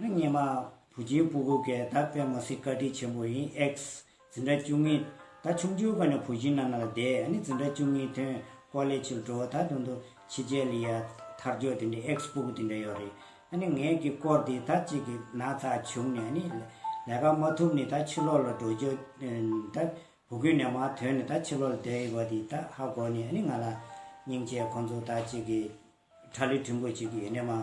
ཨ་མྱེས་མ། བུ་རྗེའི་སྤུ་གུ་གས་ད་པད་མ་སི་བཀའ་དྲིན་ཆེན་པོ་ཡིན་ཨེགས། ཛི་འདྲ་བཅུ་གཉིས། ད་ཆུང་ཆུང་ག་ནས་བུ་བཞིན་ན་ན་ལ་བསྡད་ཨ་ནི་ཛི་འདྲ་བཅུ་གཉིས་ཐོན་ཀོ་ལེ་ཆུ་འགྲོ་བ་ད་དུང་དུ་ཆི་རྗེ་ལི་ཡ་ཐར་ཇོ་དེ་འདྲའི་ཨེགས་སྤུ་གུ་དེ་འདྲ་ཡོད་རེད་ཨ་ནི་ངས་ཀྱི་སྐོར་དེ་ད་ཅིག་གི་ན་ཚ་བྱུང་ནས་ཨ་ནི་ལས་ཀ་མ་ཐུབ་ནི་ད་ཕྱི་ལོག་ལ་འགྲོ་རྒྱུ་ད་བུ་གུ་ནས་མ་ཐོན་ནི་ད་ཕྱི་ལོག་ལ་བསྡད་ཡོད་པ་དེ་ད་ཧ་གོ་ནི་ཨ་ནི་ང་ལ་སྙིང་རྗེ་ཁོང་ཚོ་ད་ཅིག་གི། ཁྲ་ལི་བྲིན་པོ་ཆེ་གི་ཡེ་ནས་མ།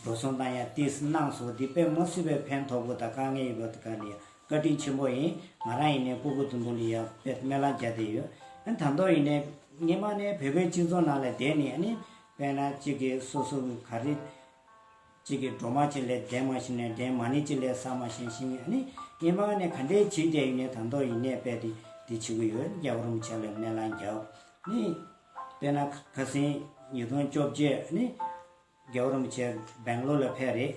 འགྲོ་སོང་དང་ཡང་ཏིས་གནང་སོ་འདི་དཔེ་མ་སུས་པའི་ཕན་ཐོག་པོ་དང་དཀའ་ངལ་ཡོད་པ་དེ་ག་ནི་ཡང་བཀའ་དྲིན་ཆེན་པོ་ཡིན་ང་རང་ཡེ་ནས་ཀོ་ཀོ་ཏུང་ཏུང་ལི་ཡང་དཔེ་སྨན་ལམ་བརྒྱ་དེ་ཡོད་ཨ་དང་ཐོག་ཡེ་ནས་སྔན་མ་ནས་བོད་པའི་སྤྱི་ཚོགས་ནང་ལ་བསྡད་ནས་ཨ་ནི་དཔེ་ན་གཅིག་གི་སོ་སོ་གི་ག་རེ། གཅིག་གི་སྒྲོ་མ་གཅིག་ལས་འདྲེན་མ་ཤེས་ནས་འདྲེན་མ་ནི་གཅིག་ལས་ཟ་མ་ཤེས་ཤེས་ངེས་ཨ་ནི་སྔན་མ་ནས་ག་འདྲའི་བྱེད་བསྡད་ཡེ་ནས་དང་ཐོག་ཡེ་ནས་དཔེ་དེ་འདི་བྱེད་གི་ཡོད་རྒྱ་བོར་མི་ཆགས་ལ་སྨན་ལམ་བརྒྱ་ཨ་ནི། དཔེར་ན་ཁ་སེང་ཉིས་སྟོང་བཅོ་བརྒྱད་ནི་རྒྱལ་བོ་རིན་པོ་ཆེ་སྦེང་ལོར་ལ་ཕེབས་རེད།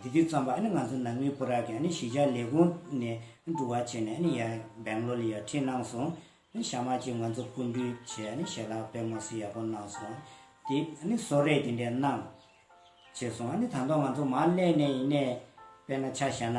དེ་དུས་ཙམ་པར་ང་ཚོ་ནང་མི་བུ་རག་གིས་གཞིས་ཆགས་ལས་ཁུངས་ནས་འགྲུལ་བ་བྱས་ནས་ཡར་སྦེང་ལོར་ལ་ཡར་འཁྲིད་གནང་སོང། ཞྭ་དམར་གྱིས་ང་ཚོ་བཀུར་འདུས་བྱས་ནས་ཞལ་ལག་པད་མོ་བསིལ་ཡག་པོ་གནང་སོང། དེ་སོགས་རེད་དེ་འདྲས་གནང། བྱས་སོང། དང་ཐོག་ང་ཚོ་མར་སླེབས་ནས་ཡིན་ནས་དཔེར་ན་ཆ་བཞག་ན།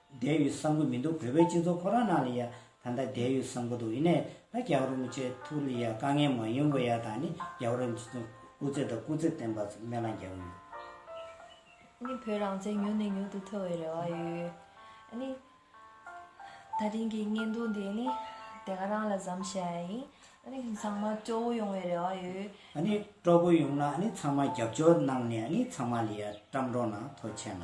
བསྡད་ཡོད་བསམ་གི་མི་འདུག་བོད་པའི་སྤྱི་ཚོགས་ཁོ་རང་ནང་ལ་ཡ་ད་ལྟ་བསྡད་ཡོད་བསམ་གི་འདུག་ཡིན་ནའི་ད་རྒྱ་གར་རུ་མི་ཆེ་ཐུག་ལ་ཡ་དཀའ་ངལ་མང་ཡོད་མགོ་ཡ་ད་ནི་རྒྱ་གར་རུ་མི་ཆེ་ཐུག་དབུ་རྩེ་དང་སྐུ་རྩེ་བསྟན་པ་ཚོ་སྨན་བླང་རྒྱག་གི་ཡོད། ནི་བོད་རང་བཙན་མྱུར་ནས་མྱུར་དུ་ཐོབ་བའི་རེ་བ་ཡོད། ནི། ད་ཐེངས་ཀྱི་བརྙན་ཐུང་དེ་ནི་དེ་ག་རང་ལ་བཟམ་ཤེས་ཡ་ཡིན། ནི་ཚང་མ་སྐྱོ་བོ་ཡོང་བའི་རེ་བ་ཡོད། ནི་སྐྲོ་བོ་ཡོང་ན་ནི་ཚང་མ་རྒྱབ་སྐྱོར་གནང་ནས་ནི་ཚང་མ་ལ་ཡ་བཀྲམ་འགྲོ་ན་ཐོ་ཆད་ན།